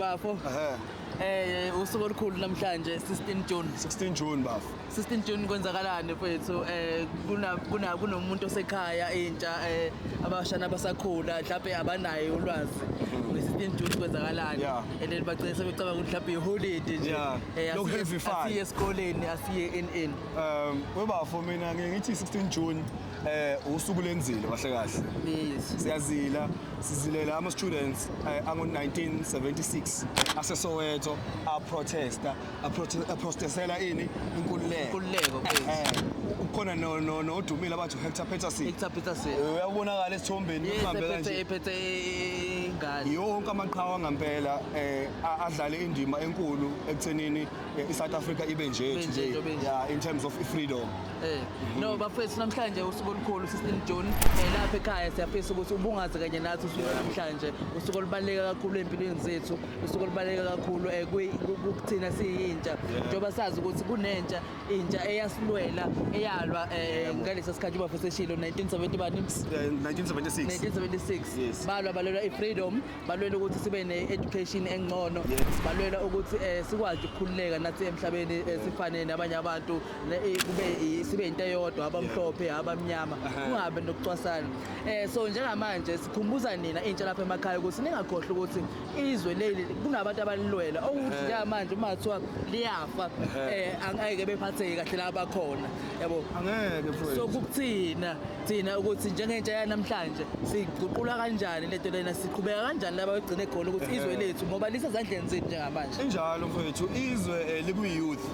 Bafo. Ehhe. Eh usuku olukhulu namhlanje 16 June. 16 June bafo. 16 June kwenzakalani mfethu? Eh kuna kuna kunomuntu osekhaya intsha eh abashana abasakhula mhlawumbe abanaye ulwazi. Nge-16 mhm. June kwenzakalani? Yeah. And then bagcina sebecabanga ukuthi mhlawumbe iholiday nje. Yeah. Eh, Lokhu heavy fun. Asiye esikoleni, asiye in in. Um, webafo mina ngithi 16 June eh usuku lenzile kahle kahle yes siyazila sizilela ama students eh, ango 1976 ase Soweto a protesta a prote- a protestela ini inkululeko Inkululeko, Eh, yes. eh, ukhona no no no odumile abathi Hector Peterson Hector Peterson Eh, uyabonakala esithombeni yes uhambe ephethe kanje ephethe ingane yonke amaqhawe ngampela eh a- adlale indima enkulu ekuthenini i-south africa ibe nje Ibe nje, today ibe nje. yeah, in terms of freedom Eh, no bafethu namhlanje usuku olukhulu 16 June eh, lapha ekhaya siyafisa ukuthi ubungaze kanye nathi usuku namhlanje usuku olubaluleke kakhulu empilweni zethu usuku olubaluleke kakhulu eh, kwi- ku- ku- kuthina siyintsha njengoba sazi ukuthi kunentsha intsha eyasilwela eyalwa eh, ngalesa sikhathi ubafethu eshilo 1970 bani Eh, 1976 1976 Yes. balwa balwela i-freedom balwela ukuthi sibe ne-education engcono balwela ukuthi um sikwazi ukukhululeka nathi emhlabeni eh, sifane nabanye abantu eh, kube sibe yinto eyodwa abamhlophe abamnyama kungabe nokucwasana um so njengamanje sikhumbuza nina intsha lapha emakhaya ukuthi ningakhohlwa ukuthi izwe leli kunabantu abalilwela okuthi njengamanje uma kuthiwa liyafa um angeke bephatheke kahle la bakhona yabo angeke so kukuthina thina ukuthi njengentsha yanamhlanje siyiguqula kanjani le nto lena siqhubeka kanjani laba begcine khona ukuthi izwe lethu ngoba lisezandleni zethu njengamanje injalo mfowethu izwe eh, likwi-youth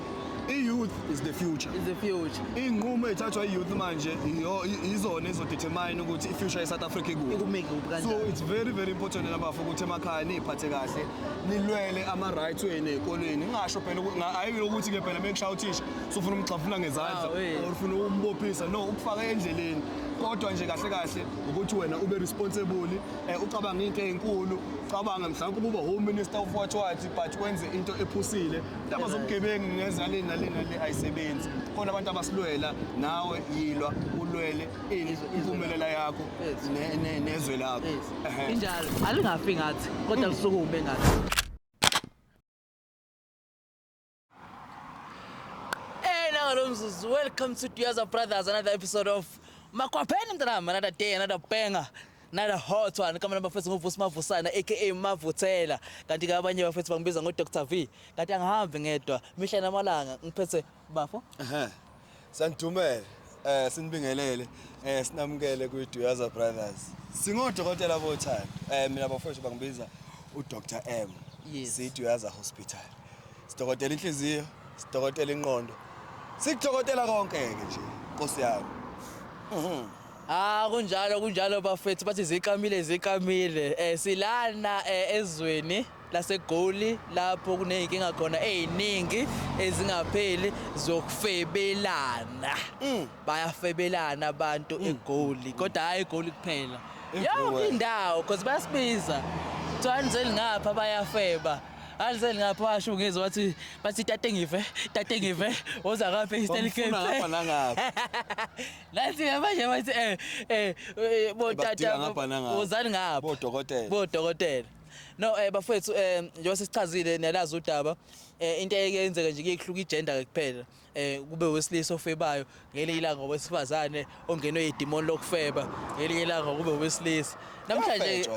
i-youth is the future is the future iy'nqumo ey'thathwa i-youth manje iyo- i- izona ezodetermine ukuthi i-future ye-south africa ikuphi ikumeke kuphi so kanjani it's very very important nabafo ukuthi emakhaya niyiphathe kahle nilwele ama-right wenu ey'kolweni ngingasho phela uku- nga- hhayi ukuthi-ke phela mekushaya uthisha sufuna umgxafuna ngezandla or ufuna umbophisa no ukufaka endleleni kodwa nje kahle kahle ukuthi wena ube responsible eh, ucabanga into ezinkulu cabanga mhlawumbe ukuba home minister of what what but wenze into ephusile ndaba zobugebengu ngeza le nale nale ayisebenzi khona abantu abasilwela nawe yilwa ulwele impumelela yakho nezwe lakho injalo alingafi ngathi kodwa kusukume ngathi Eh, nangalomzuzu welcome to Duyaza Brothers another episode of Makhwapheni mntanami another day another banger nala hot one kama namba futhi nguvusi mavusana aka mavuthela kanti ke abanye bafethu bangibiza ngo Dr V kanti angihambi ngedwa mihla namalanga ngiphethe bafo Ehhe. Sanidumela eh sinibingelele eh sinamukele kwi Duyaza Brothers. Singodokotela bothando. Eh mina bafowethu bangibiza u Dr M. Yes. Si Duyaza Hospital. Sidokotela inhliziyo, sidokotela inqondo. Sikudokotela konke ke nje. Nkosi yami. Mhm. Ah kunjalo kunjalo bafethu bathi ziqamile ziqamile eh silana eh, ezweni laseGoli lapho kuney'nkinga khona ey'ningi ezingapheli zokufebelana mm. bayafebelana abantu mm. eGoli kodwa hhayi eGoli kuphela yonke indawo cause bayasibiza kuthiwa anizeli ngapha bayafeba anizeli ngapha washo ngize wathi bathi tate ngive tate ngive woza ngapha eStell Cape ngapha nangapha nathi manje bathi eh eh, eh botata wozani ngapha bodokotela bodokotela No eh bafethu eh njengoba sesichazile niyalazi udaba eh into eyeke yenzeka nje kuyehluka igender ke kuphela eh kube wesilisa ofebayo ngelinye ilanga owesifazane ongenwe yidemon lokufeba ngelinye ilanga kube wesilisa namhlanje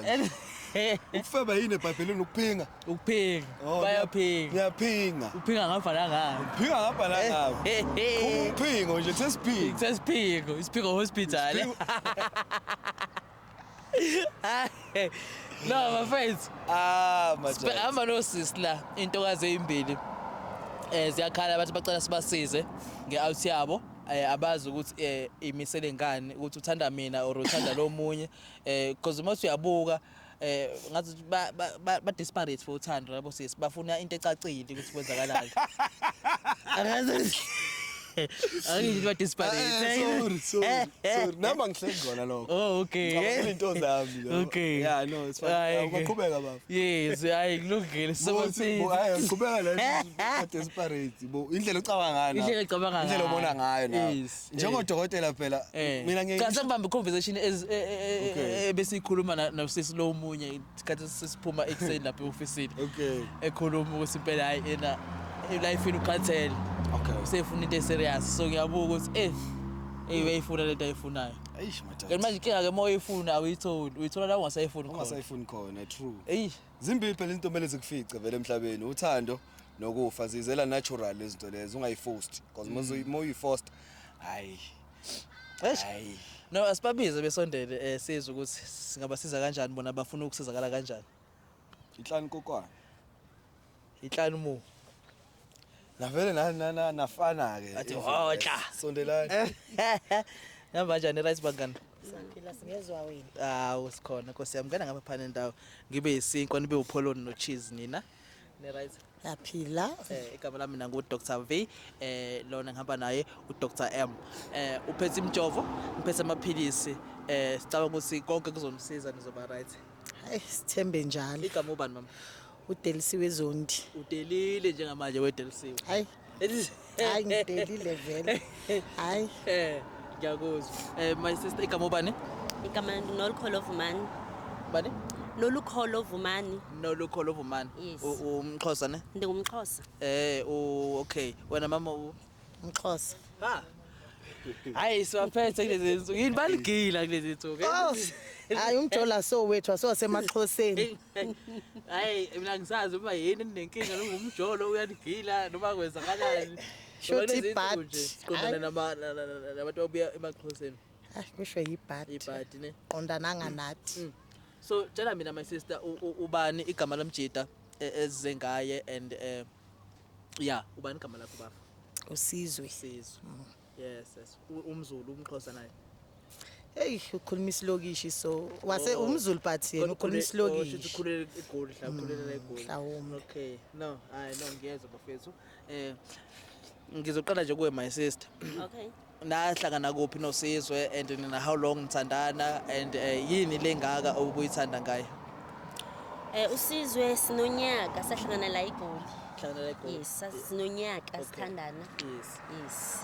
ukufeba yini ebhayibhelini ukuphinga ukuphinga Oh, bayaphinga ngiyaphinga uphinga ngapha la ngapha phinga ngapha la ngapha Eh, eh, eh. uphingo nje sesiphinga Sesiphingo, isiphingo hospital. no my friends ah madoda hamba nosisi la intokazi eyimbili eh ziyakhala abantu bacela sibasize ngeout yabo eh, abazi ukuthi eh, imisele ngani ukuthi uthanda mina or uthanda lo munye eh because uma uyabuka eh ngathi ba ba, ba disparate for uthando labo sisi bafuna into ecacile ukuthi kwenzakalani angazi Angithi ba disparate. Eh, sorry, sorry, sorry. Namba ngihleli khona lokho. Oh, okay. Ngicabanga into zami lo. Okay. Yeah, no, it's fine. Ay, okay. Uqhubeka baba. Yes, hayi kulungile. Sobathi. Hayi, uqhubeka la ba disparate. Bo indlela ocabanga ngayo. Indlela ocabanga ngayo. Indlela obona ngayo na. Yes. Njengo dokotela phela eh. mina ngeke. Cha sengibamba conversation eh, eh, besikhuluma na sisi lo munye isikhathi sesiphuma ekuseni lapha eofisini okay ekhuluma ukuthi impela hayi ena life ukhathele okay usefuna into eserious so ngiyabuka ukuthi eh eyi uyayifuna lento ayifunayo eish mathatha kanti manje inkinga ke moyifuna awuyitholi uyithola la ungasayifuni khona ungasayifuni khona true eyi zimbili phela into mele zikufice vele emhlabeni uthando nokufa zizela natural izinto lezo ungayiforced because mm. moyuyiforced hayi Hayi. No asibabize besondele eh sizwe ukuthi singabasiza kanjani bona bafuna ukusizakala kanjani. Inhlani kokwana. Inhlani mu. Navele na na na nafana ke. Athi hoxa. Sondelani. Namba njani right bangani? Sangiphila singezwa wena. Hawu sikhona Nkosi yami ngena ngapha phana endawo. Ngibe yisinkwa nibe upholoni no cheese nina. Niright. Yaphila. Eh igama lami nangu Dr. V eh lona ngihamba naye uDr. M. Eh uphethe imjovo, ngiphethe amaphilisi. Eh sicabanga ukuthi konke kuzomsiza nizoba right. Hayi sithembe njalo. Igama ubani mama? udelisiwe zondi udelile njengamanje wedelisiwe hayi hayi ngidelile vele hayi eh ngiyakuzwa eh my sister igama ubani igama nolkholo vumani bani nolukholo vumani nolukholo vumani yes. umxhosa ne ndingumxhosa eh okay wena mama u mxhosa ha hayi siwaphethe kulezi nsuku yini baligila kulezi nsuku oh, hayi umjola so wethu asewasemaxhoseni hayi mina ngisazi uba yini ninenkinga ningumjolo uyanigila noma kwenzakalani Shuthi bad. qondana nama- na- na- na- nabantu ababuya emaxhoseni Ay kusho yibad. ibhadi ne Qondana nganathi. Mm. so tshela mina my sister u- u- ubani igama lomjita e- ezize ngaye and um ya ubani igama lakho bafo Usizwe. sizwe Yes, yes. U- Umzulu, umxhosa naye. Hey, ukhuluma isilokishi so wase Oh. umzulu but yena ukhuluma isilokishi. Ukhulele eGoli, hla ukhulelela eGoli. mhlawumbe. Okay. No, hayi no ngiyezwa bafethu. Eh ngizoqala nje kuwe my sister. Okay. Nahlangana kuphi nosizwe and nina how long nithandana and eh, yini lengaka obuyithanda ngayo? Eh usizwe sinonyaka sahlangana la eGoli. Hlangana eGoli. Yes, sas- sinonyaka Okay. sithandana. Yes. yes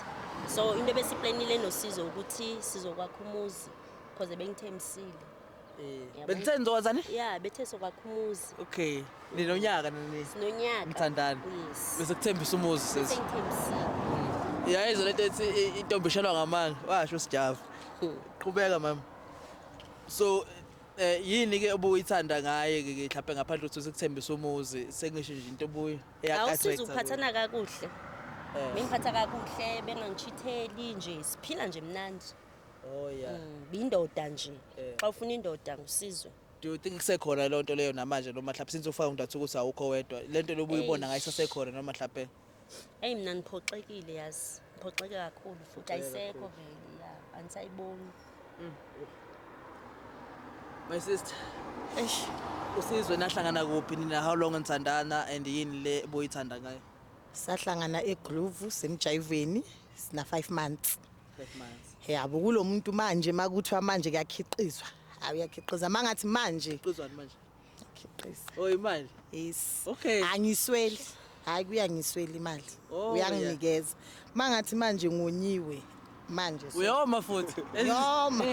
so into ebesiplanile nosizo ukuthi sizokwakha umuzi because bengithembisile Eh, bekuthe nizowazani ya bethe sokwakha umuzi okay ninonyaka nini sinonyaka Nithandana. yes bese kuthembisa umuzi sisi sengithembisile yayizwa lento ethi i- intombi ishelwa ngamanga washo sijava qhubeka mama so eh yini ke obuyithanda ngaye ke mhlawumbe ngaphandle ukuthi usekuthembisa umuzi sengisho nje into obuyi Yeah, I awusizi swear, ukuphathana kakuhle Eh. bengiphatha kakuhle bengangitshitheli nje siphila nje mnandi Oh yeah. Mm, biyindoda nje Eh. xa ufuna indoda ngusizwe Do you think kusekhona leyo nto leyo namanje noma mhlawumbe since ufaka uNdathu ukuthi awukho wedwa le nto lobuyibona ngayo isasekhona noma mhlawumbe eyi mna ndiphoxekile yazi Ngiphoxeke kakhulu futhi ayisekho vele ya anisayiboni. Mm. My sister. Eish. Usizwe nahlangana kuphi nina how long nithandana and yini le boyithanda ngayo? Sahlangana eGroove semjayiveni sina 5 months. 5 months. Yabo kulomuntu manje makuthiwa manje kuyakhiqizwa. Awuyakhiqiza mangathi manje. Qizwani manje? Ngikhiqiza. Oh imali. Yes. Okay. Angisweli. Hayi kuyangisweli imali. Oh, Uyanginikeza. Mangathi manje ngonyiwe manje. so- Uyoma futhi. Yoma.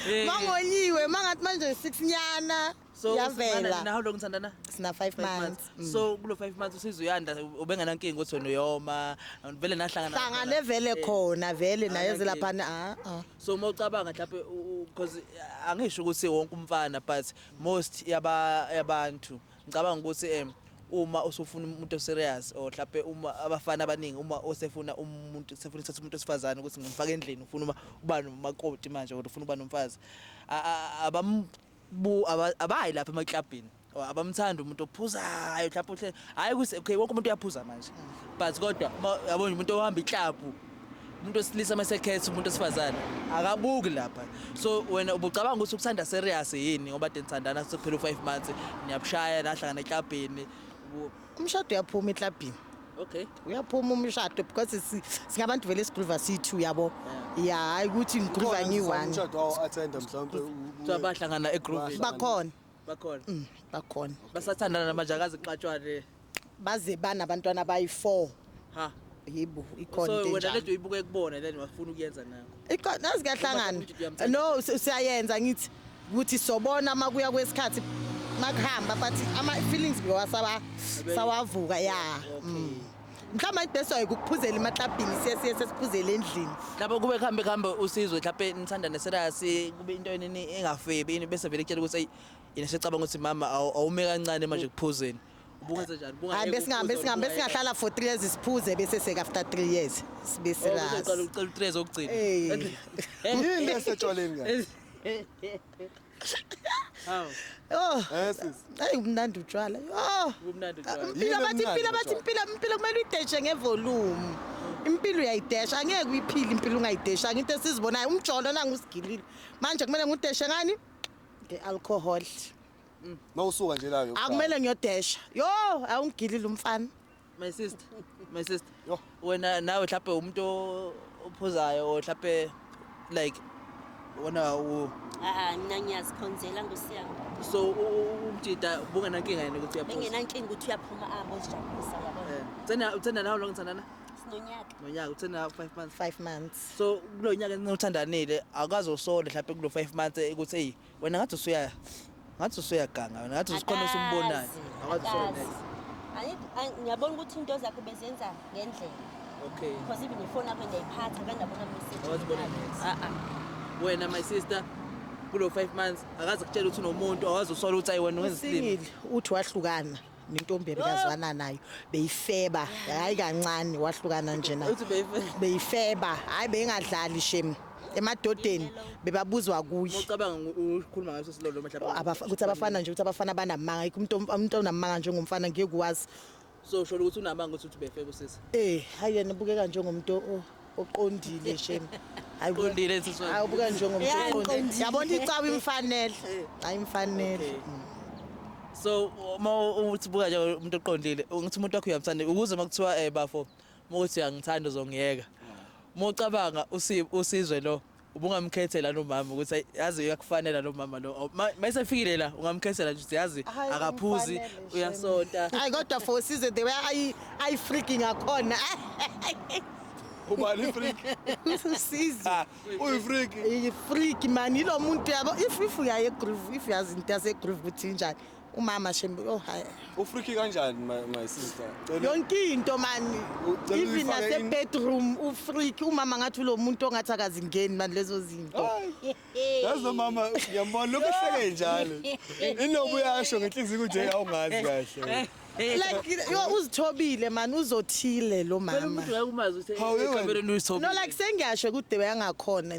Eh, Mangonyiwe mangathi manje 6 nyana. So Yavela. Now long thandana? Sina 5 Five months. months. Mm. So kulo 5 months usizo uyanda ubenganankinga ukuthi wena uyoma vele nahlangana. Hlangane vele Eh, khona vele naye Anankinga. zelaphana ah ah. so uma ucabanga mhlawumbe because angisho ukuthi wonke umfana but most yabantu ngicabanga ukuthi um uma usufuna umuntu oserious or mhlawumbe uma abafana abaningi uma osefuna umuntu sefuna ukuthatha umuntu osifazane ukuthi ngimfake endlini ufuna uma uba nomakoti manje or ufuna uba nomfazi Bu abayi lapha emaklabhini or abamthanda umuntu ophuzayo mhlawumbe uhle hhayi ukuthi okay wonke umuntu uyaphuza manje but kodwa yabona umuntu ohamba iklabhu umuntu osilisa uma sekhetha umuntu osifazane akabuki lapha so wena ubucabanga ukuthi ukuthanda serious yini ngoba denithandana sekuphela u-five months niyabushaya nahlangana eklabhini umshado uyaphuma eklabhini okay uyaphuma umshado because singabantu vele sigruva siyi-two uyabo ya hhayi ukuthi ngigruva ngiyi-one umshado wawo athenda mhlawumbe kuthiwa bahlangana egruvini bakhona bakhona mm, bakhona basathandana namanje akazi kuxatshwane baze banabantwana abayi-four ha yibo ikhona so into wena enjalo lento uyibuke kubona then wafuna ukuyenza nayo Iqo- nazi kuyahlangana Uma umuntu uyamthanda. no si- siyayenza ngithi ukuthi sobona uma kuya kwesikhathi makuhamba but ama-feelings ngowa sawa- Abe- sawavuka ya Okay. mm. mhlawumbe ibest wayo kukuphuzela emaklabhini siye siye sesiphuzele endlini lapho kube kuhambe kuhambe usizwe mhlawumbe nithandane serasi kube into enini engafebi ini bese vele kutshela ukuthi eyi yena secabanga ukuthi mama awu- awume kancane manje kuphuzeni Ubungenze njani? Ubunga- hayi besingahambe Ubunga- singahambe singahlala for three years siphuze bese seka after three years sibe Oh, uzoqala serious ucela utrezi okugcina. Hey. yini esetshwaleni kahle Hawu, oh eh sisi ayi umnandi utshwala oh ubumnandi utshwala. impilo Yini bathi emnandi impilo bathi utshwala? impilo impilo kumele uyideshe ngevolume impilo uyayidesha angeke uyiphile impilo ungayidesha into esizibonayo umjolo nangusigilile manje kumele ngudeshe ngani nge-alcohol mawusuka nje la yokuqala. akumele ngiyodesha yo awungigilile umfana my sister my sister Yho. wena nawe mhlawumbe umuntu o- ophuzayo or mhlawumbe like wona u- Ah, mina ngiyazikhonzela ngosiyami so u- u- umjita bungenankinga yena ukuthi uyaphuza bengenankinga ukuthi uyaphuma abo zijabulisa yabona Eh, uthanda uthanda nawe lo ngithandana sinonyaka nonyaka uthanda five months five months so kulo nyaka enothandanile akazi usole mhlawumbe kulo five months eh, ukuthi eyi wena ngathi usuya ngathi usuyaganga wena ngathi usikhona usumbonayo Akazi, akazi. Angi- angi- ngiyabona ukuthi into zakhe bezenza ngendlela okay because even ifoni yakho ndiyayiphatha kanti abona Awazibona message Ah, ah. wena my sister kulo 5 months akazi kutshela ukuthi unomuntu awazi usola ukuthi ayi wena wenza isilima usingile uthi wahlukana nentombi ebekazwana nayo beyifeba hayi kancane wahlukana nje nayo Uthi beyife- beyifeba hayi beyingadlali shem emadodeni bebabuzwa kuye Ucabanga ngu- ukhuluma ngaso silolo mhlawumbe. Abafa- ukuthi abafana nje ukuthi abafana banamanga yikho umuntu om- umuntu onamanga njengomfana ngeke uwazi So sholo ukuthi unamanga ukuthi uthi befebe usisi. eh hayi yena ubukeka njengomuntu o- uqondile shem Hayi bo- Uqondile nsizwa. Hayi, ubuka njengomuntu Yeah, oqondile. ngiqondile. yabona icawa imfanele hayi imfanele so uma uthi buka nje umuntu oqondile ngithi umuntu wakho uyamthanda ukuze uma kuthiwa um bafo uma uthi uyangithanda uzongiyeka uma ucabanga usi- usizwe lo ubungamkhethela lo mama ukuthi ayi, yazi uyakufanela lo mama lo Aw, ma- ma esefikile la ungamkhethela nje ukuthi yazi Hhayi, akaphuzi umfanele, shem. uyasonta Ay kodwa for size the way ay ay freaking akhona. ubani freak Size. Ah, uyifreak Iyi freak man ilo muntu yabo if if uyaye groove if yazi into yase groove ukuthi injani. umama shembe oh hayi ufriki kanjani my, my sister cela yonke into mani Ucela even uyifake nase in- bedroom ufriki umama ngathi ulo muntu ongathi akazingeni mani lezo zinto yazi nomama ngiyambona lokhu ehleke njalo inobu yasho ngenhliziyo ukuthi hey awungazi kahle like yo uzithobile mani uzothile lo Phela mama umuntu ngeke umazi ukuthi Hawu, yebo. ekamereni no uyithobile like sengiyasho kude beyangakhona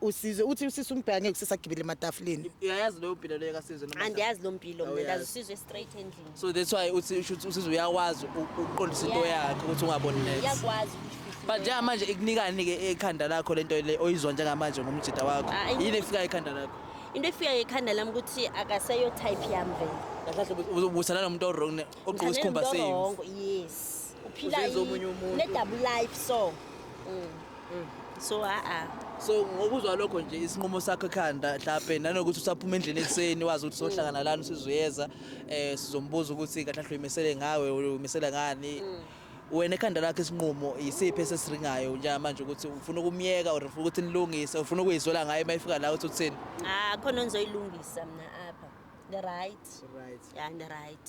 Usizwe uthi usisi umbheka ngeke usisagibele ematafuleni. Uyayazi leyo mpilo leyo kasizwe noma? Andiyazi lo mpilo mina Awuyazi. ndazi usizwe straight endlini. So that's why uthi usho ukuthi usizwe uyakwazi u- ukuqondisa into Yeah. yakhe ukuthi ungaboni next. Iyakwazi ukuyifihla. But njengamanje ikunikani ke ekhanda lakho lento le oyizwa njengamanje ngomjita wakho. Ah, I- Yini efika ekhanda lakho? Into efika ekhanda lami ukuthi akaseyo type yami vele. Kahle kahle ubuthana nomuntu owrong ne- ogqoka Ngithandana isikhumba nomuntu same. o-wrong, Yes. uphila Uzenza i- omunye umuntu. une-double life so Mm. so a-a so ngokuzwa lokho nje isinqumo sakho ekhanda mhlawumbe nanokuthi usaphuma endlini ekuseni wazi ukuthi sohlangana lana usizoyeza um sizombuza ukuthi kahle kahle uyimisele ngawe uyimisele ngani wena ekhanda lakho isinqumo yisiphi esesiringayo njengamanje ukuthi ufuna ukumyeka or ufuna ukuthi nilungise ufuna ukuyizwela ngayo uma ifika la uthi uthini Ah, khona engizoyilungisa mina apha. The right. right Yeah, the right.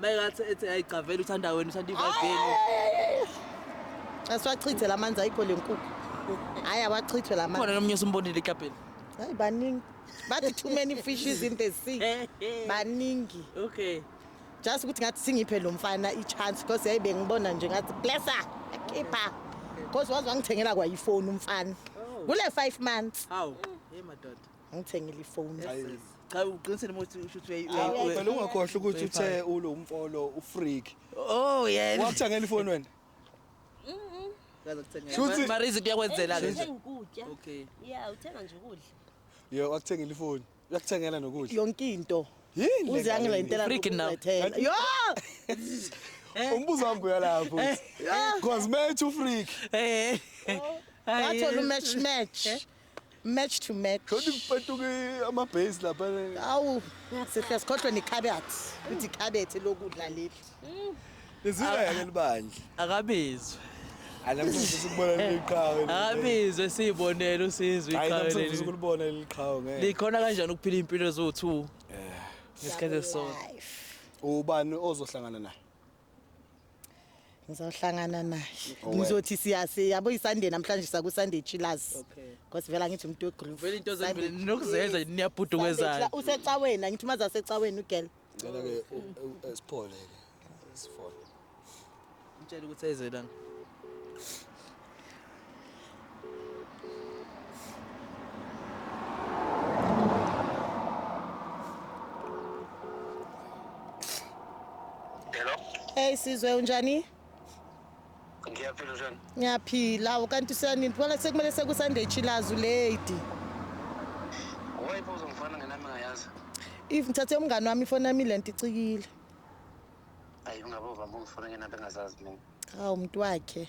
Mayekathi ethi ayigcavela uthanda wena uthanda ivageni. Asiwachithe la manzi ayikho le nkukhu. Hayi awachithwe la manzi. Khona nomnye usumbonile ikapeni. Hayi baningi. Bathi too many fishes in the sea. Baningi. Okay. Just ukuthi ngathi singiphe lo mfana i-chance because yayi bengibona nje ngathi blesser keeper. Because waze wangithengela kwayifoni umfana. Kule 5 months. Hawu. Hey madoda. ngithengile ifoni cha uqinisele ukuthi usho ukuthi phela ungakhohlwa ukuthi uthe ulo umfolo ufreak oh yeah wakuthengela ifoni wena Shuthi mara izinto yakwenzela ke nje. Okay. Yeah, uthenga nje ukudla. Yo, wakuthengela ifoni. Uyakuthengela nokudla. Yonke into. Yini? Uze angilentela ukuzethela. Yo! Eh. Umbuzo wami buya lapho. Eh. Cause me too freak. Eh. Wathola umatch match. match to match Shothi kupetuka amabhase lapha. awu sihle sikhohlwe nekhabethi ukuthi ikhabethi lokudla leli Lizileke libandla. akabizwe Anamfuza sikubona leliqhawe. akabizwe siyibonele usizwe Hayi iqhawe namfuza leli sikulibona leliqhawe ngeke. likhona kanjani ukuphila impilo eziwu-2 ngesikhathi esisodwa Life. Ubani ozohlangana naye? ngizawuhlangana naye Owedwa. ngizothi siya siyabo isunday namhlanje sakusunday chillers Okay. because vele angithi umuntu wegroove Vele into Sunday- zombili ninokuzenza Yes. niyabhudukwezayo. Sunday chilla- usecaweni angithi umazi asecaweni ugirl Cela ke u- u- u- siphole ke. Siphole. Mtshela ukuthi ayizwe lana. Hello. Hey sizwe unjani? Ngiyaphila njani? Ngiyaphila ukanti usanini phela sekumele sekusande chilazu lady. Wayipo uzomfana ngenami ngayazi. If ngithathe umngani wami ifoni yami lento icikile. Ayi ungabova mbo ngifuna ngenami engazazi mina. Hawu umuntu wakhe.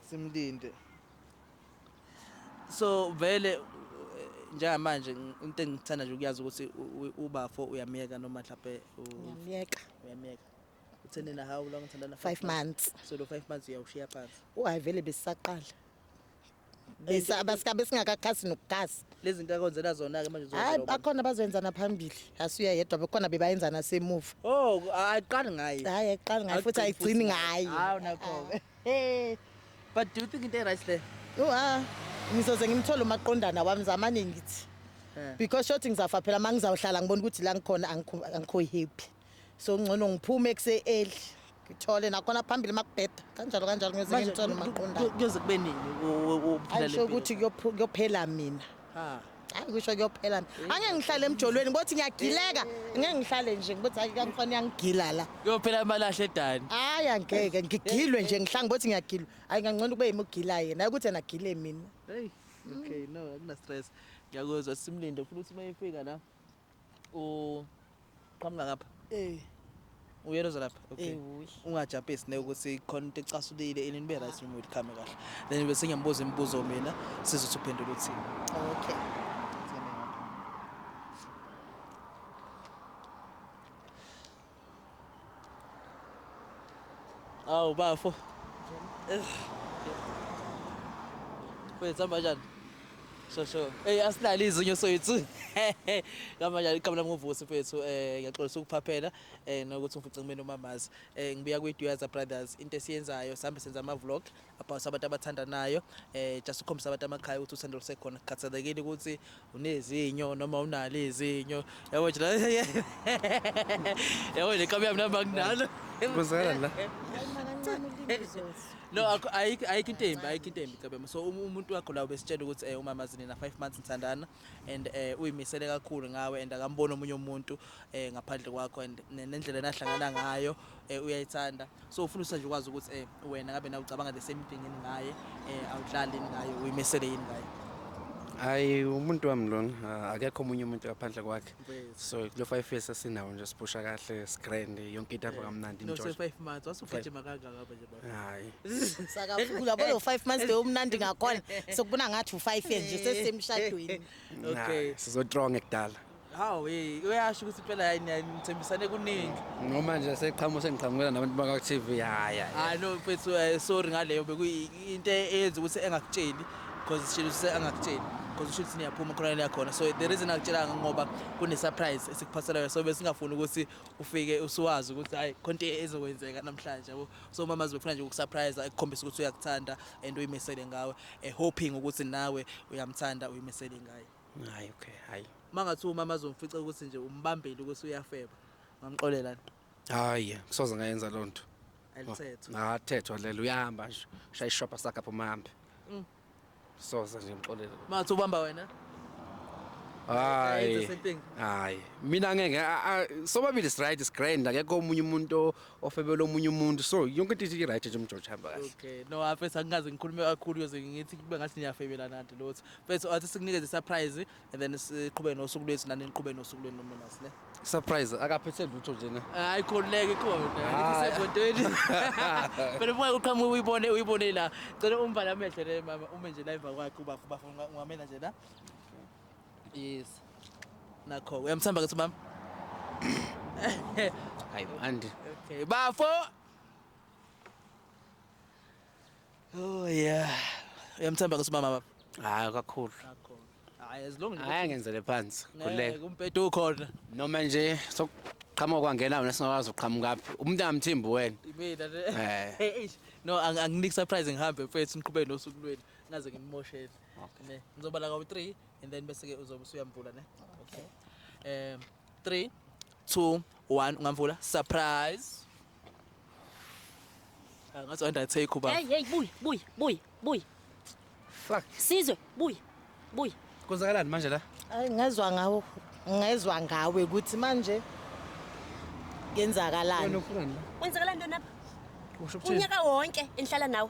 simlinde so vele njengamanje into engithanda nje ukuyazi ukuthi ubafo uyamyeka noma mhlawumbe uyamyeka uyamyeka utheni na how long uthandana 5 months so lo 5 months uyawushiya phansi uhayi vele besisaqala bese abasikabe singakakhasi nokukhasa lezi zinto akwenzela zona-ke manje hayi bakhona bazoyenzana phambili asuya yedwa bekhona bebayenzana semuva oh ayiqali ngaye hayi ayiqali ngaye futhi ayigcini ngaye hawu nakho-ke Hey. But do you think into right there? Oh ah. Ngizoze ngimthole umaqondana wami zamane ngithi. Eh. Because shothi ngizafa phela mangizawuhlala ngibona ukuthi la ngikhona angikho happy. So ngcono ngiphume ekuse early. ngithole nakhona phambili makubheda kanjalo kanjalo ngiyoze ngimthole umaqondana kuyoze kube nini uphila le mpilo ayisho ukuthi kuyophela mina hayi kusho kuyophela angeke ngihlale emjolweni bothi ngiyagileka ngeke ngihlale nje ngibothi hayi kangikhona yangigila la kuyophela amalahle edani hayi angeke ngigilwe nje ngihlange bothi ngiyagilwa hayi ngangcono kube yimi ugila yena hayi ukuthi yena agile mina hey okay no akuna stress ngiyakuzwa simlinde futhi uma efika la uqhamuka ngapha eh uyena ozolapha okay ungajapesi ne ukuthi khona into ecasulile ini nibe right noma uyikhame kahle then bese ngiyambuza imibuzo mina sizothi uphendula uthini okay Awu bafo. Kwethu hamba kanjani? So so. Hey asilali izinyo soyithu. Hamba kanjani iqhamu lami ngovusi mfethu eh ngiyaxolisa ukuphaphela eh nokuthi umfuce kumina umamazi. Eh ngibuya kwi Duyaza Brothers into esiyenzayo sihambe senza ama vlog abhawuse abantu abathandanayo eh just ukhombisa abantu amakhaya ukuthi uthando lusekhona kukhathalekile ukuthi unezinyo noma unalo izinyo yabo nje la- yabo le kabi yami nami anginalo Kuzela la. Kancane ulimi lizothi. no akho- ayikho ayikho into embi ayikho into embi kabema so um- umuntu wakho la ubesitshela ukuthi eh umama zinina 5 months nithandana and eh uyimisele kakhulu ngawe and akamboni omunye umuntu eh ngaphandle kwakho and ne- nendlela enahlangana ngayo eh uyayithanda so ufuna usanje ukwazi ukuthi eh wena ngabe na ucabanga the same thing yini ngaye eh awudlali yini ngaye uyimesele yini ngaye hayi umuntu wami lona akekho omunye umuntu ngaphandle kwakhe so kulo five years asinawo nje siphusha kahle sigrand yonke into apha eh, kamnandi no so five months wasugijima kangaka apha nje baba hayi sakafula bolo five months de umnandi ngakhona sokubona ngathi u five years nje sesemshadweni okay sizotrong ekudala Hawu hey uyasho ukuthi phela hayi nithembisane kuningi. Noma nje seqhamu sengiqhamukela nabantu baka TV haya. Hayi no mfethu eh, sorry ngaleyo bekuyinto eyenza ukuthi engakutsheli because sishilo ukuthi angakutsheli because usho ukuthi niyaphuma khona la khona so the reason akutshela ngoba kune surprise esikuphathelayo so besingafuni ukuthi ufike usuwazi ukuthi hayi konke ezokwenzeka namhlanje yabo so mama zibefuna nje ukusurprise ekukhombisa ukuthi uyakuthanda and uyimisele ngawe eh, hoping ukuthi nawe uyamthanda uyimisele ngaye Hayi okay, hayi. Mangathi umama azomfica ukuthi nje umbambile ukuthi uyafeba. Ngamxolela. Hayi, kusoze ngayenza lonto. Elithetho. Ngathethwa lelo uyahamba nje. Shaya ishopha sakhe apho mahambe. Mm. Soze nje ngixolela. Mangathi ubamba wena? hayi hayi mina ngeke sobabili sright sgrand akekho omunye umuntu ofebela omunye umuntu so yonke into ithi right nje umjojo hamba kahle okay no afethu angikaze ngikhulume kakhulu yoze ngithi kube ngathi niyafebela nanti lotho Mfethu athi sikunikeze surprise and then siqhubeke nosuku lwethu nani niqhubeke nosuku lwenu nomnumasi ne. Surprise akaphethe lutho nje ne. Hayi khululeke khona. Ah. Isebhodweni. Phela uma uqhamuka uyibone uyibone la. Cela umbala amehlo le mama ume nje la emva kwakhe ubafo bafo ungamela nje la. Yes. Nakho uyamthamba kathi mama. Hayi manje. Okay bafo. Oh yeah. Uyamthemba ke sibaba baba. Hayi kakhulu. Hayi as long Hayi ngenzele phansi. Khuleka. Kumpedo ukhona. Noma nje sokuqhamuka kwangena wena singakwazi uqhamuka phi. Umuntu angamthimbi wena. Imina ne. Eh. Eish. No ang- anginiki surprise ngihambe mfethu niqhubeke nosuku lwenu. Ngaze nginimoshele. Ne. Ngizoba la ngo-3 and then bese ke uzobe usuyamvula ne. Okay. Um 3 2 1 ungamvula surprise. Ah, ngathi wayenda take uba Hey hey buy buy buy buy. Fuck. Sizwe buy buy. Kwenzakalani manje la? Ay ngezwa ngawo ngezwa ngawe ukuthi manje kenzakalani. Wena ufunani la? Wenzakalani lona? Usho ukuthini? Unyaka wonke enhlala nawe.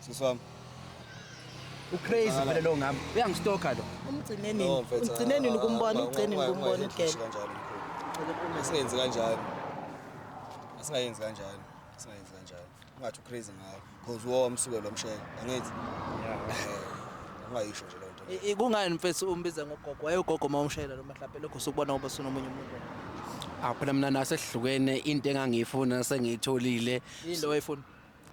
Sisi wami. Ucrazy vele lo ngami. Uyangistoka lo. Umgcine nini? No, mfethu, Umgcine nini ah, ukumbona? ah, Ugcine nini why- why ukumbona not udlela? kanjalo mkhulu? Asingenzi kanjalo. Asingayenzi kanjalo. Asingayenzi kanjalo. Ungathi ucrazy ngayo. Cause wo umsuke lo msheke. Angithi. Eh, Ungayisho nje lento. le. I- i- Kungani mfethu umbiza ngogogo? Wayegogo uma umshayela lo mahlaphe lokho usukubona ngoba sunomunye umuntu. Awu phela mina nasehlukene into engangiyifuna sengiyitholile. Yini lo wayefuna?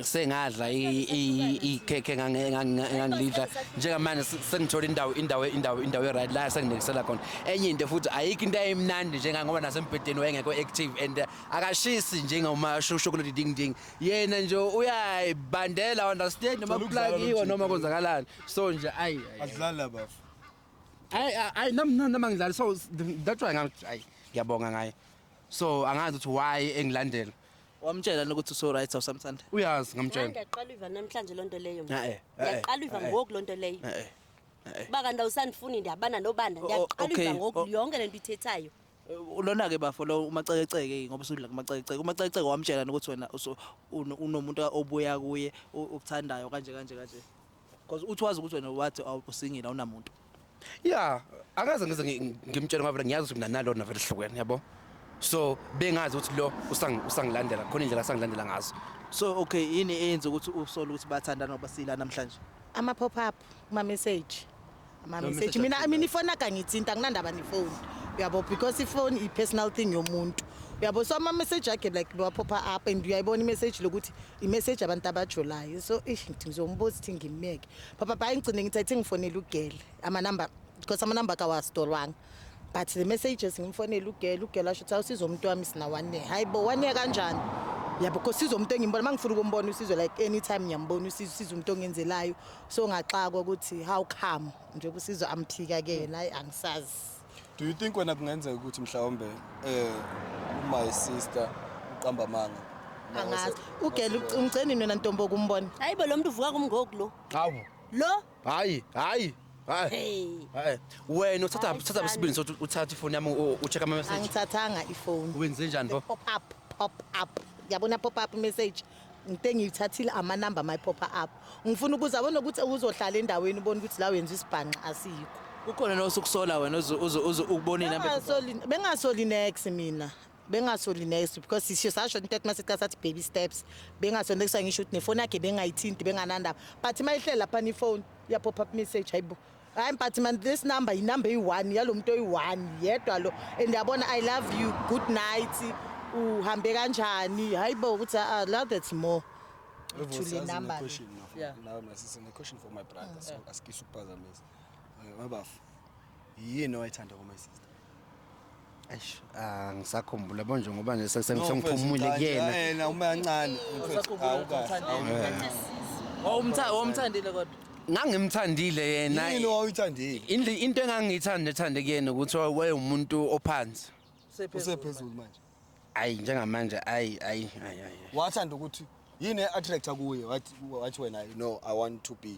sengadla ikhekhe ngangilidla njengamanje sengithola indawo indawo indawo indawo e-right la senginekisela khona enye into futhi ayikho into eyimnandi njengangoba nasembhedeni wayengekho active and uh, akashisi njengoma shokolodi ding ding yena nje uyayibandela understand noma kuplakiwe noma konzakalani so nje ayi adlala bafu ayi ayi nami nami ngidlala so that's why ngathi ayi ngiyabonga ngaye so angazi ukuthi why engilandela Wamtshela yini ukuthi uso right awusamthanda? Uyazi ngamtshela. Ngiyaqala iva namhlanje lonto leyo. mina. Eh, eh, eh, Ngiyaqala iva eh, eh. ngoku lonto leyo. Eh, eh, eh. Kuba kanti awusandifuni ndiyabana nobanda. O- o- Ngiyaqala iva okay, ngoku o- yonke lento ithethayo. Ulona ke bafo lo umacekeceke ngoba usudla kumacekeceke. Umacekeceke wamtshela yini ukuthi wena uso- uno- unomuntu obuya kuye o- okuthandayo kanje kanje kanje. Because uthi wazi ukuthi wena wathi awu- usingile awunamuntu. ya akaze ngize ngi- ngimtshele ngoba vele ngiyazi ukuthi mina nalona vele sihlukene yabo so bengazi ukuthi lo usangi- usangilandela khona indlela asangilandela ngazo So okay yini eyenza ukuthi usole ukuthi bathandana ngoba sila namhlanje? Ama pop up, ama message. Amameseji mina I mean ifona kangithinta nginandaba nefoni uyabo because ifoni i personal thing yomuntu uyabo so ama message akhe like bewaphopha up and uyayibona imessage lokuthi imessage abantu abajolayo so ish ngithi ngizombuza ukuthi ngimeke papa bhayi ngigcine ngithi athi ngifonele ugele ama number because ama number kawastolwanga but the messages ngimfonele ugele ugele asho ukuthi awusiza umuntu wami sina one year hayibo one year kanjani yabo because sizo umuntu engimbona mangifuna ukumbona usizwe like anytime ngiyambona usizwe usizwe umuntu ongenzelayo so ngaxakwa ukuthi how come njengoba usizwa amphika ke yena ayi angisazi do you think wena kungenzeka ukuthi mhlawumbe eh my sister uqamba amanga angazi ugela umgceni wena ntombo kumbona hayi bo lo muntu uvuka kumngoku lo hawu lo hayi hayi hayi hayi wena uthatha uthatha isibindi sokuthi uthathe ifoni yami ucheck ama message angithathanga ifoni wenze njani bo pop up pop up yabona pop up message ngite ngiyithathile amanamba my pop up ngifuna ukuze abone ukuthi uzohlala endaweni ubone ukuthi la wenza isibhanqa asikho ukhona nosukusola wena ukubonile bengasoli next mina bengasoli next because sisho sasho into ethi masiqala sathi baby steps bengasoli next ngisho ukuthi nefoni yakhe bengayithinti benganandaba but mayihlela lapha ni phone ya pop up message hayibo hayi but man this number yinumber eyi-one yalo muntu oyi-one yedwa lo and yabona i love you good night uhambe kanjani hayi bo ukuthi ah love that's more to the number Yeah. nawe my sister ne-question for my brother so asikise ukuphazamisa Eh, mabafu yini owayithanda kuma sister Eish, ah, ngisakhumbula bonje ngoba nje sese- No, sengiphumule mfethu, kuyena. Thandi, eh, na uma yancane mfethu, hawu kahle. Wawumtha- wawumthandile kodwa Ngangimthandile yena. Yini owawuyithandile? Indle- Into engangiyithanda ethande kuyena ukuthi wa- wayewumuntu ophansi. Usephezulu manje. Ayi njengamanje ayi ayi ayi ayi. Wathanda ukuthi yini attractor kuye wathi wathi wena no I want to be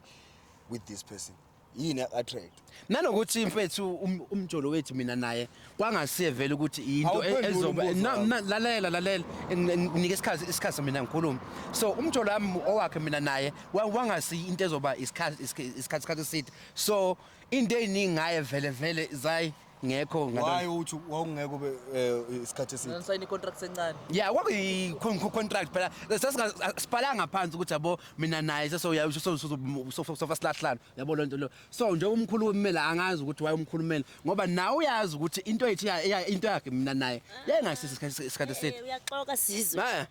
with this person. yini attract nanokuthi mfethu um- umjolo wethu mina naye kwangasiye vele ukuthi into Awuphenduli ezoba umbuzo Na- wami. na- lalela lalela Ngi- ngi- nginike isikhathi isikhathi mina ngikhulume so umjolo wami owakhe mina naye wa- wangasiyi into ezoba isikhathi isikhathi isikhathi eside so into eziningi ngaye vele vele zayi ngekho why uthi wawungeke ube eh, isikhathi eside ngisayina icontract encane yeah kwakuyi contract phela sasiphalanga phansi ukuthi yabo mina naye sesoyasofa silahlana yabo loo nto leyo so nje umkhulu wemela angazi ukuthi waye umkhulumeli ngoba nawe uyazi ukuthi into yethu into yakhe mina naye yayingasisi isikhathi eside eh, uyaxoka sizwe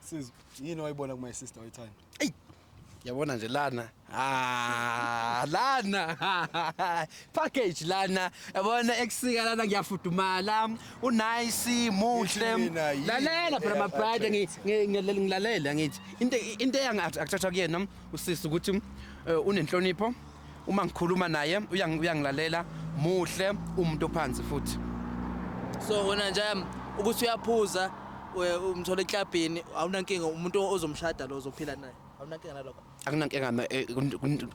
Sizo, yini wayibona ku my sister oyithanda? Eyi, yabona nje lana ah lana package lana yabona ekusika lana ngiyafudumala unice muhle lalela phela my bride ngilalela ngithi into into engathathwa kuyena usisi ukuthi eh, unenhlonipho uma ngikhuluma naye uyangilalela muhle umuntu ophansi futhi so wena nje um, ukuthi uyaphuza umthola eklabhini awunankinga umuntu ozomshada lo ozophila naye awunankinga nalokho akunankinga eh,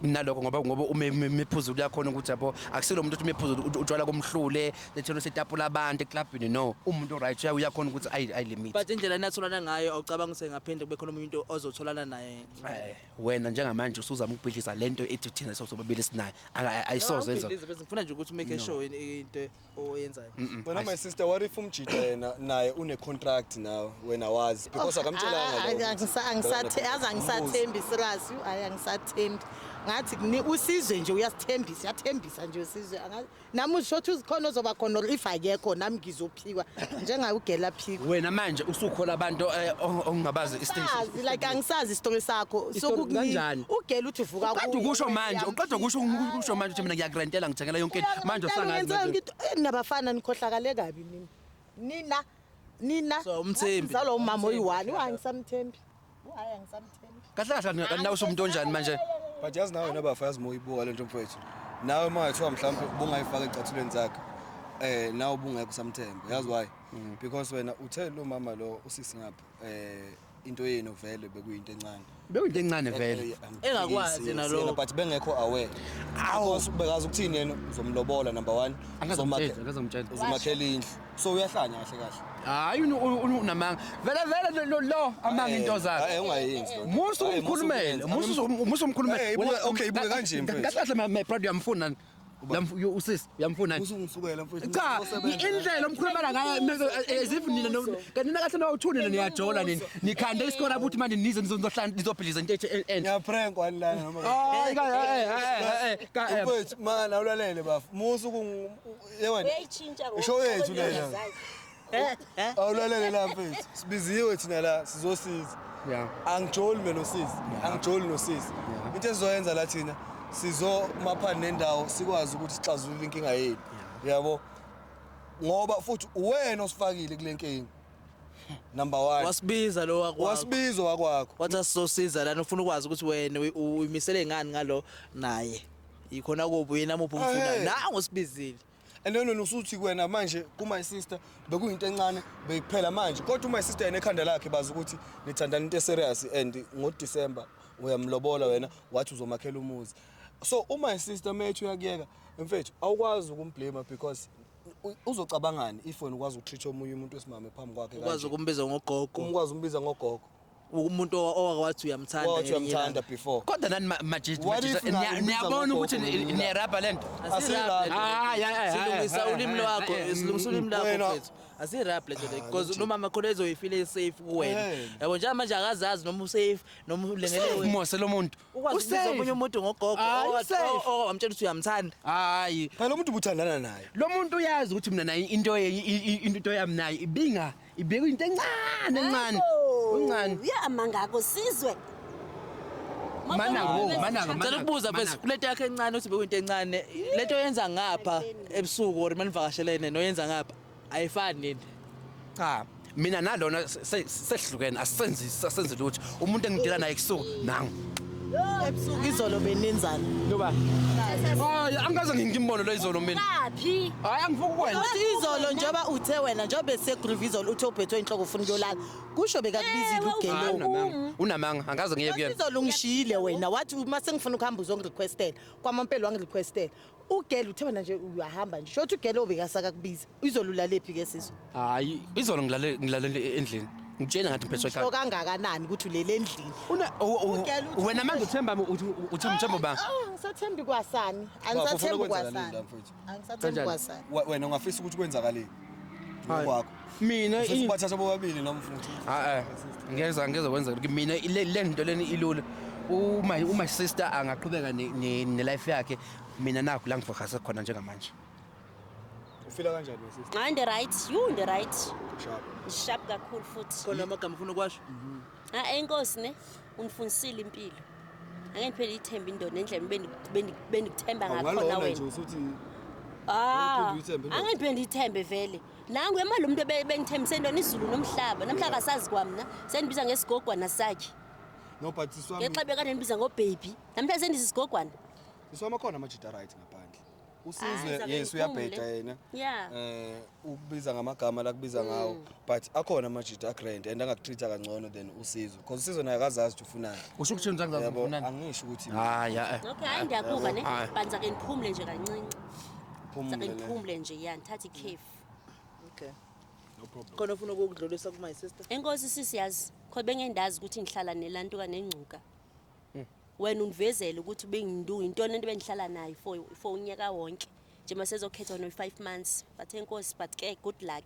nalokho ngoba ngoba uma imiphuzulu yakhona ukuthi yabo akusilo umuntu uthi imiphuzulu utshwala komhlule lethelo setapula abantu eklabhini no umuntu right uyakhona ukuthi ayi limit but indlela enatholana ngayo awucabanga ukuthi ngaphinde kube khona umuntu ozotholana naye eh. wena njengamanje usuzama ukubhidliza lento ethi thina sobabili sinayo Aka- ayisoze enza Awubhidlizi bese ngifuna nje ukuthi umake sure yini into oyenzayo Wena my sister what if umjita yena naye une contract nawe wena wazi because akamtshelanga Ah, ah, loko. angisa- angisathe- yazi angisathembi sirasi hayi angisathembi ngathi kuni- usizwe nje uyasithembisa uyathembisa nje usizwe Anga- nami usho ukuthi uzikhona ozoba khona or if akekho nami ngizophikwa njengaye ugela phikwa wena manje usukhola abantu eh, o- ongabazi istation Angisazi, like angisazi isitori sakho Isitori kanjani? ugela uthi uvuka uqeda kuwe, ukusho wena manje uqeda uyamphika. ukusho ukusho manje ukuthi mina ngiyakurentela ngithengela yonke into. Uyazi manje ngempela usangazi ngenzeka nje. ngithi, "Eh, nabafana nikhohlakale kabi nina nina nina So, uMthembi. zalo umama oyi-one wangisamthembi Hayi angisamthembi. Kahle kahle kanti kanti nawe usumuntu onjani manje? But yazi nawe wena bafa yazi moyibuka lento mfowethu. Nawe uma ethiwa mhlawumbe ubungayifaka ecathulweni zakhe. Eh nawe ubungekho samthemba. Yazi why? Because wena uthe lo mama lo usisi ngapha eh into yenu vele bekuyinto encane. Bekuyinto encane vele. Eh, eh, Engakwazi yes, yena yes, lokho. yena, But bengekho aware. Awu. Because ubekazi ukuthini yena uzomlobola number 1. Angazomtshela, angazomtshela. Uzomakhela indlu. so uyahlanya kahle kahle hayi unamanga vele vele lo lo amanga into zakhe hayi ungayenzi lo musu umkhulumele musu musu umkhulumele okay ibuke kanje mfethu kahle kahle my brother uyamfuna usisi uyamfuna cha indlela omkhulumela ngayo as if nina kanti nakahle nawuthunile niyajola nini nikhande isikora ukuthi manje nize nizohlala nizobhiliza into enhle eh, ngiyaprank wani la noma hayi ka eh eh eh mfethu mana ulalele bafu musu Yewena. Uyayitshintsha ngoba Isho yethu ukhona lena. uyazazi. Eh, eh. Awulalele la mfethu. Sibiziwe thina la sizosiza. Yeah. Angijoli mina nosisi. Angijoli nosisi. Yeah. Into esizoyenza la thina sizo maphani nendawo sikwazi ukuthi sixazulule inkinga yethu. Yabo. Ngoba futhi uwena osifakile kule nkinga. Number 1. Wasibiza lo wakho. Wasibiza wakwakho. Wathi asizosiza lana ufuna ukwazi ukuthi wena uyi- uyimisele ngani ngalo naye. Yikhona kuphi uyena muphi umfuna. Hey. Nangu sibizile. And then wena usuthi kuwena manje ku my sister bekuyinto encane bekuphela manje kodwa my sister yena ekhanda lakhe bazi ukuthi nithandana into serious and ngo December uyamlobola wena wathi uzomakhela umuzi so uma sister methu yakuyeka mfethu awukwazi ukumblame because u- uzocabangani if wena ukwazi ukutreat omunye umuntu wesimame phambi kwakhe Ukwazi kanje. ukumbiza ngogogo. umkwazi umbiza ngogogo umuntu owake wathi uyamthanda Wathi ngelinye uyamthanda ilanga. before. kodwa nani ma- majita What if majita, niya- ngingakubiza niyabona ngogogo ukuthi mina? ni- niyarabha le nto Asirap le Ah, yeah, yeah, nto. yeah, Silungisa yeah, ulimi yeah, lwakho, yeah, yeah. silungisa ulimi lwakho Wena- mfethu. Asirap le nto le because nomama khona ezoyifile safe kuwena. Eh. Yabo njengamanje akazazi noma usafe noma ulengelwe. mose lo muntu Ukwazi ukubiza Usafe. omunye umuntu ngogogo Hayi, owathi- usafe. o- o- wamtshela ukuthi uyamthanda. hayi phela umuntu ubuthandana naye lo muntu uyazi ukuthi mina naye into ye- i- i- into yami naye ibinga ibekwe into encane encane uncane uyamanga akho sizwe Mananga, wo, mananga, Ngicela ukubuza mfethu kulento yakhe encane uthi bekuyinto encane. Lento yenza ngapha ebusuku or manivakashelene noyenza ngapha. ayifani nini cha mina nalona sehlukene asenzi asenzi lutho umuntu engidila naye kusuku nangu ebusuku izolo benenzani ngoba hayi angikaze ngimbone lo izolo mina laphi hayi angifuki kwena izolo njengoba uthe wena njengoba ese groove izolo uthe uphethwe inhloko ufuna ukuyolala kusho bekakubizile eh, ugelo unamanga angaze ngiye kuyena izolo ungishiyile wena wathi uma sengifuna ukuhamba uzongirequestela kwamampela wangirequestela Ugele uthe wena nje uyahamba nje. Shothi ugele obekasaka kubiza. Izolulalephi ke siso? Hayi, izolo ngilale ngilale endlini. Ngitshena ngathi mphethwe ekhaya. Shoka kangakanani ukuthi ulele endlini. Una Ugele uthi- wena manje uthemba uthi uthi mthembo ba. Ah, Angisathembi kwasani. Angisathembi kwasani. Angisathembi Kanjani? kwasani. Wa- wena ungafisa ukuthi kwenzakaleni Hayi. ngokwakho mina Ufisa ubathatha bobabili noma mfuthu a ngeza ngeza kwenza mina le le nto leni ilula uma uma sister angaqhubeka ne- ne ne life yakhe mina nakho la ngifocus khona njengamanje ufila kanjani we sister hayi ndi right you ndi right sharp ndishap kakhulu futhi khona amagama ufuna ukwasho a enkosi ne undifundisile impilo angeke ndiphele ithemba indoda endlela bendi- bendi- bendikuthemba ngakhona awungalona nje wena usuthi Ah, Awuphinde uyithembe indoda. angeke ndiphele ndiyithembe vele Nangu emali umuntu ebengithembise into nizulu nomhlaba. Namhla kasazi kwamna. Sendibiza ngesigogwana sakhe. No but siswami. Ngexa bekade nibiza ngo baby. Namhla sendisa isigogwana. Siswami khona amajita right ngaphandle. Usizwe yes uyabheda yena. Yeah. Eh ukubiza ngamagama la kubiza ngawo mm. but akhona amajita a grand and angakutreat kangcono than usizwe because usizwe naye akazazi ukuthi ufunani. Usho ukuthi ngizazi ukuthi ufunani. Angisho ukuthi. Hayi. Okay hayi ndiyakuva ne. Banza ke niphumule nje kancinci. Phumule ne. ngiphumule nje ya ngithathe ikhefu Okay. No problem. Khona ufuna ukukudlulisa ku my sister. enkosi sisi yazi khona bengendazi ukuthi ngihlala nelantuka nengcuka wena undivezele ukuthi bengindu yintoni lento bengihlala nayo for for unyaka wonke nje masezokhetha no 5 months but enkosi but ke good luck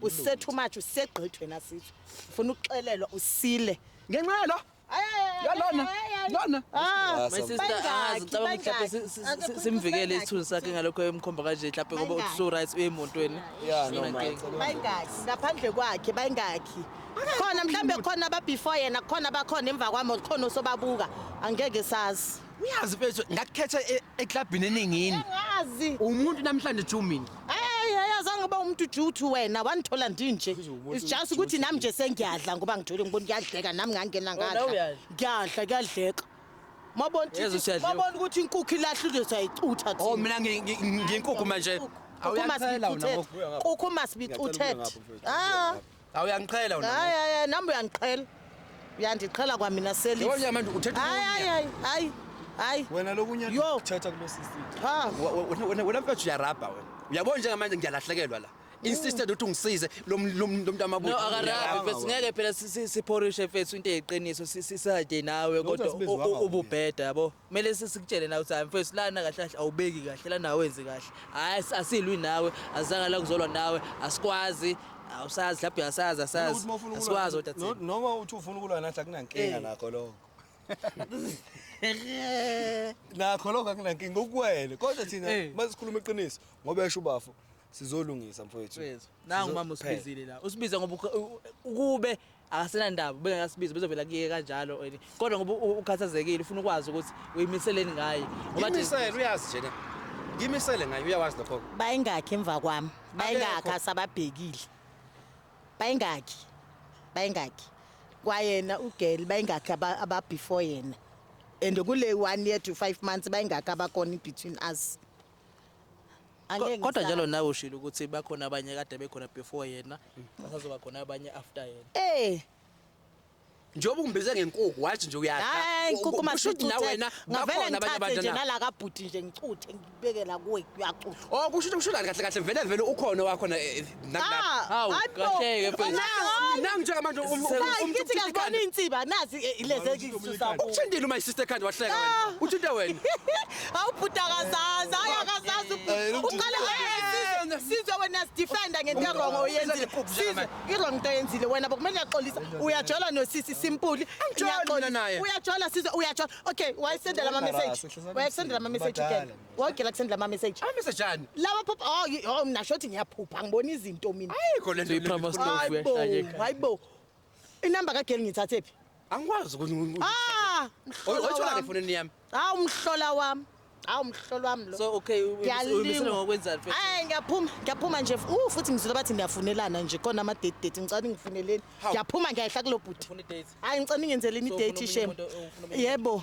usethu much usegqithi wena sithu ufuna ukuxelelwa usile ngenxa yalo yalona lona ah, my sister angazi ngicabanga ukuthi mhlawumbe si- si- si- simvikele isithunzi sakhe ngalokho emkhomba kanje mhlawumbe ngoba uthi so right uye emotweni Yeah, no, Yona mate. nkinga. bayingaki ngaphandle kwakhe bayingaki khona mhlawumbe khona ababefore yena khona abakhona emva kwami khona osobabuka angeke sazi uyazi mfethu ngakukhetha e- eklabhini eningini Ngazi. umuntu namhlanje ju mina Hey, hey, azange uba umuntu juthu wena wandithola ndinje. It's just ukuthi nami nje sengiyadla ngoba ngithole ngibona kuyadleka nami ngangena Wena ngadla. uyadla? Ngiyadla kuyadleka. Mabona Yezo ukuthi siyadliwa. mabona ukuthi inkukhu ilahle into sayicutha thina. oh mina ngi- ngi- ngi- nginkukhu manje Kukhu Awuyakuthela wena masibicuthela. ngoku. Kukhu masibicuthela. Ah. Awuyangiqhela wena. Hayi hayi hayi, nami uyangiqhela. Uyandiqhela kwamina Yebo selisi. nyama manje uthetha Hayi hayi ukunya. hayi hayi. Hayi. Wena lokunye Yo. kuthetha kulo sisi. Ha. Wa- wa- wena- Wena wena mfethu uyarabha wena. Uyabona njengamanje ngiyalahlekelwa la. Insisted ukuthi ungisize lo m- lo m- lo mntu amabutho. No akarabi Uyarabha mfethu wena. ngeke phela si- si- siphorishe mfethu into eyiqiniso si- sisade nawe kodwa sibiziwanga u- u- ububheda yabo. kumele sikutshele nawe ukuthi hayi mfethu lana kahle kahle awubeki kahle lana awenzi kahle hayi asilwi nawe azanga la kuzolwa nawe asikwazi awusazi mhlawumbe asazi asazi asikwazi kodwa thina noma uthi ufuna ukulwa nathi akunankinga eh. nakho lokho nakho lokho akunankinga ukuwele kodwa thina eh. masikhuluma iqiniso ngoba esho ubafo sizolungisa mfowethu nangu mama usibizile la usibiza ngoba ukube akasenandaba bengekasibiza bezovela kuye kanjalo wena kodwa ngoba u- ukhathazekile ufuna ukwazi ukuthi uyimiseleni ngaye Ngoba nje- ngimisele uyazi njena ngimisele ngayo uyawazi lokho bayingakhi emva kwami bayingakhi Akekho. asababhekile bayingakhi bayingakhi kwayena ugeli bayingakhi aba- ababefore yena and kule one year to five months bayingakhi abakhona in between us Angeke Kodwa ngisazi. njalo nawe ushilo ukuthi bakhona abanye kade bekhona before yena, basazoba khona abanye after yena. Eh, njengoba ungibize ngenkukhu wathi nje uyadla hayi U- nkukuma kusho ukuthi na wena ngavele bakhona abanye ngithathe abantu nje na nala kabhuti nje ngicuthe ngibeke la kuwe uyacutha oh kusho ukuthi kusho kahle kahle kahle vele vele ukhona wakhona eh, nangijeamanjeukutshintile uma isister ekhanda wahleka ah. uthinte wena awubhuda kazazi hayi akazazi uqale sizwe wena sidefenda ngento erongo oyenzile sizwe irong into oyenzile wena bokumele uyaxolisa uyajola nosisi simpuli uyajola sizwe uyajola okay wayesendela ama-message wayesendela ama-message again wagela kusendla ama message Ay message ani? lawa phupha oh y- oh mina shothi ngiyaphupha ngibona izinto mina Ayikho lento. Iphama stove Hayibo, uyahlanyeka. hayibo inamba kageli ngithathe phi Angikwazi ukuthi ah mhlola Oyithola ke wami. efonini yami. hawu umhlola wami hawu umhlola wami lo So okay, u- Ngiyalingwa. uyimisele ngokwenzani first? Ay ngiyaphuma ngiyaphuma nje uh futhi ngizwile bathi niyafunelana nje khona ama date date ngicela ngifuneleni Hawu. ngiyaphuma ngiyayihla kulobhuti Ufuna i-date? hayi ngicela ningenzeleni Ufuna i-date omunye shem umuntu- ufuna omunye yebo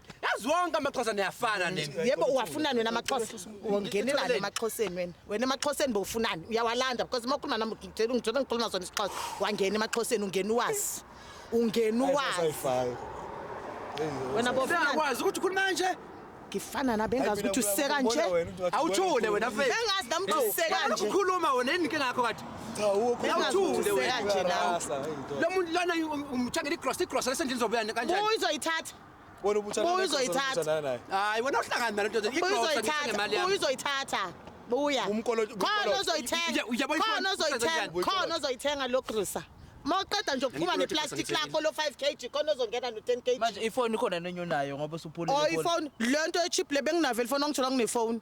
yazi wonke amaxhosa niyafana nini yebo uwafunani wena amaxhosa ungenelani emaxhoseni wena wena emaxhoseni bowufunani uyawalanda because uma ukhuluma nami ngitshela ungitshela ngikhuluma sona isixhosa wangena emaxhoseni ungena uwazi ungena uwazi wena bofunani uyakwazi ukuthi ukhuluma kanje ngifana na bengazi ukuthi usise kanje awuthule wena mfethu bengazi nami ukuthi usise kanje ukhuluma wena yini inkinga yakho kade cha ukho bengazi ukuthi usise wena kanje nawe lo muntu lona umthengela igrocery igrocery esendlini zobuya kanjani uyizoyithatha Wena ubutha Buya uzoyithatha. Hayi wena uhlangana nalo ndoda. Buya uzoyithatha. Buya uzoyithatha. Buya. Umkolo. Khona uzoyithenga. Khona uzoyithenga. Khona uzoyithenga lo grocer. mawuqeda nje ukuphuma neplastic lakho lo 5 kg khona ozongena no 10 kg manje ifoni khona nenye unayo ngoba usuphulile oh ifoni lento echip le benginavele ifoni ongithola kunefoni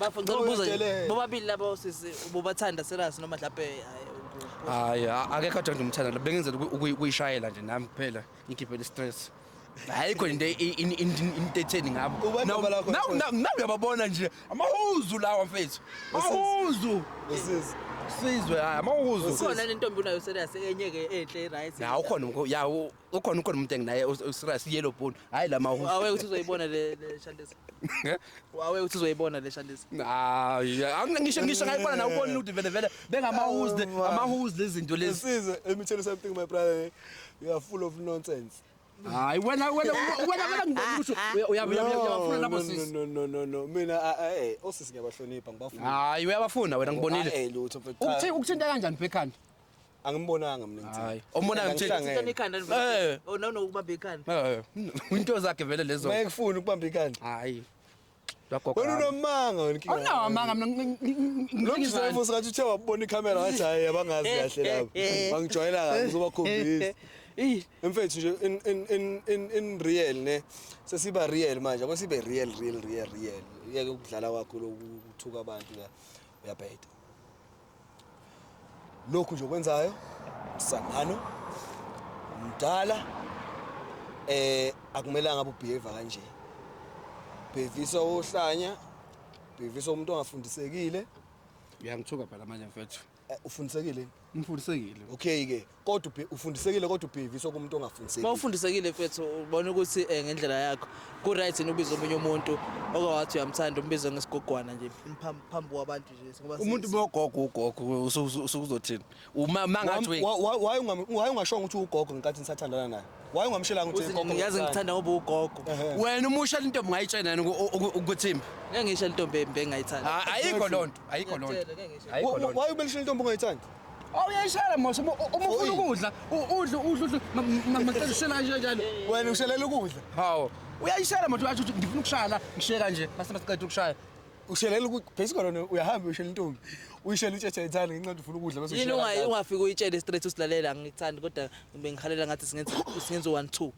Bafo ngicela ukubuza nje, Uyedelela. bobabili labo sisi bobathanda serious noma mhlawumbe hayi, uku- hayi a- akekho athanda umthanda lo bengenzela uku- uku- ukuyishayela nje nami kuphela ngikhiphele stress hayi khona into i- in- in- in- into etheni ngabo Uba Nawu- nobala khona nawu- futhi. nawu- nawu uyababona nje amahuzu lawa mfethu amahuzu Usisi. sizwe hayi amahuzu ukhona nentombi unayo serious enye ke enhle right. ya ukhona umkho- ya u- ukhona ukhona umuntu enginaye userious yellow bone hayi la mahu wawe uthi uzoyibona le le shandisa wawe uthi uzoyibona le shandisa hayi angisho ngisho ngayibona na ubona ukuthi vele vele bengamahuzi le oh, amahuzi lezinto lezi size let me tell you something my brother you are full of nonsense hayi wena wena wena wena ngikusho uyabafuna labo sisi no no no no mina eh osisi ngiyabahlonipha ngibafuna hayi uyabafuna wena ngibonile ukuthinta kanjani bekhanda angimbonanga mina ngithini. Hayi. Ombona Ngithini, ngithini? ngithini? Sithanda ikhanda Eh. nivele. Oh no no ukubamba ikhanda. Eh, Into zakhe vele lezo. Maye kufuna ukubamba ikhanda. Hayi. Lagogo. Wena unomanga wena inkinga. Awunawo amanga mina ngi- ngi- ngi- Lo ngi- mzimba ngizani? usathi uthe wabona ikhamera wathi hayi abangazi kahle labo. Bangijwayela kabi ngizobakhombisa. Ih, Mfethu nje in in in in in real ne sesiba real manje akwesibe real real real real. Yeke ukudlala kwakho lokuthuka abantu la. Uyabheda. lokhu nje okwenzayo msangano mdala eh akumelanga ubehave kanje bhevisa ohlanya bhevisa umuntu ongafundisekile uyangithuka phela manje mfethu eh, ufundisekile ngifundisekile okay ke kodwa ubhe- ufundisekile kodwa ubheviswa kumuntu uma ongafundisekile ufundisekile mfethu ubona ukuthi um ngendlela yakho ku-right yini ubiza omunye umuntu okawathi uyamthanda umbize ngesigogwana nje phambi phambi kwabantu nje ngoba umuntu sesi- bogogo ugogo usukuzothini uma mangathi we- Wa- wa- waye ungam- waye ungashongo ukuthi ugogo ngenkathi nisathandana naye waye ungamshelanga ukuthi Uthi ugogo ngiyazi ngimthanda. ngithanda ngoba ugogo Ehhe. wena umusha lento mngayitshena yini uku- uku- ukuthimba ngeke ngisho intombi embi engayithanda Ah, ayikho loo nto ayikho loo nto Ngiyakutshela, ngeke ngisho. Ayikho Wa- loo wa- nto. waye ubelishela intombi ongayithandi Awuyayishela mos uma uma ufuna ukudla u- udle udle udle ma- ma- macela ushela kanje kanjalo. Wena ushelela ukudla. Hawu. Uyayishela mos uyathi uthi ngifuna ukushaya la ngishiye kanje mase masiqeda ukushaya. Ushelela ukuthi basically wena uyahamba ushela intombi. Uyishela itshetshe ithanda ngenxa yokuthi ufuna ukudla bese Yini ushela ungayi kanjalo. ungafika uyitshele straight usilalela angikuthandi kodwa bengihalela ngathi singenza singenza 1 2.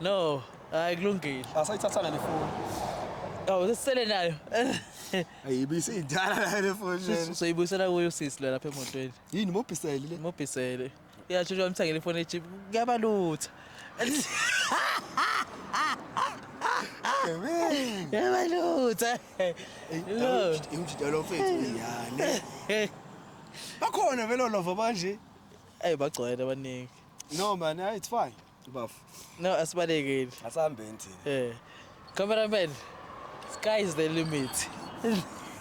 No, hayi kulungile. Asayithathanga nefoni. Awu sesele nayo. Ayibisi idala la le foni. Sis- Soyibuyisela kuyo usisi lo lapha emotweni. Yini mobhiseli le? Mobhisele. Uyashesha wamthengela ifoni ejip. Kuyabalutha. Kuyabalutha. Lo. Imjidalo mfethu yani. Bakhona vele lova manje. Ayi bagcwele abaningi. No man, it's fine. Bafo. No, asibalekeli. Asihambeni thina. Eh. Cameraman, sky is the limit.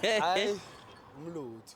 Hayi, umlutho.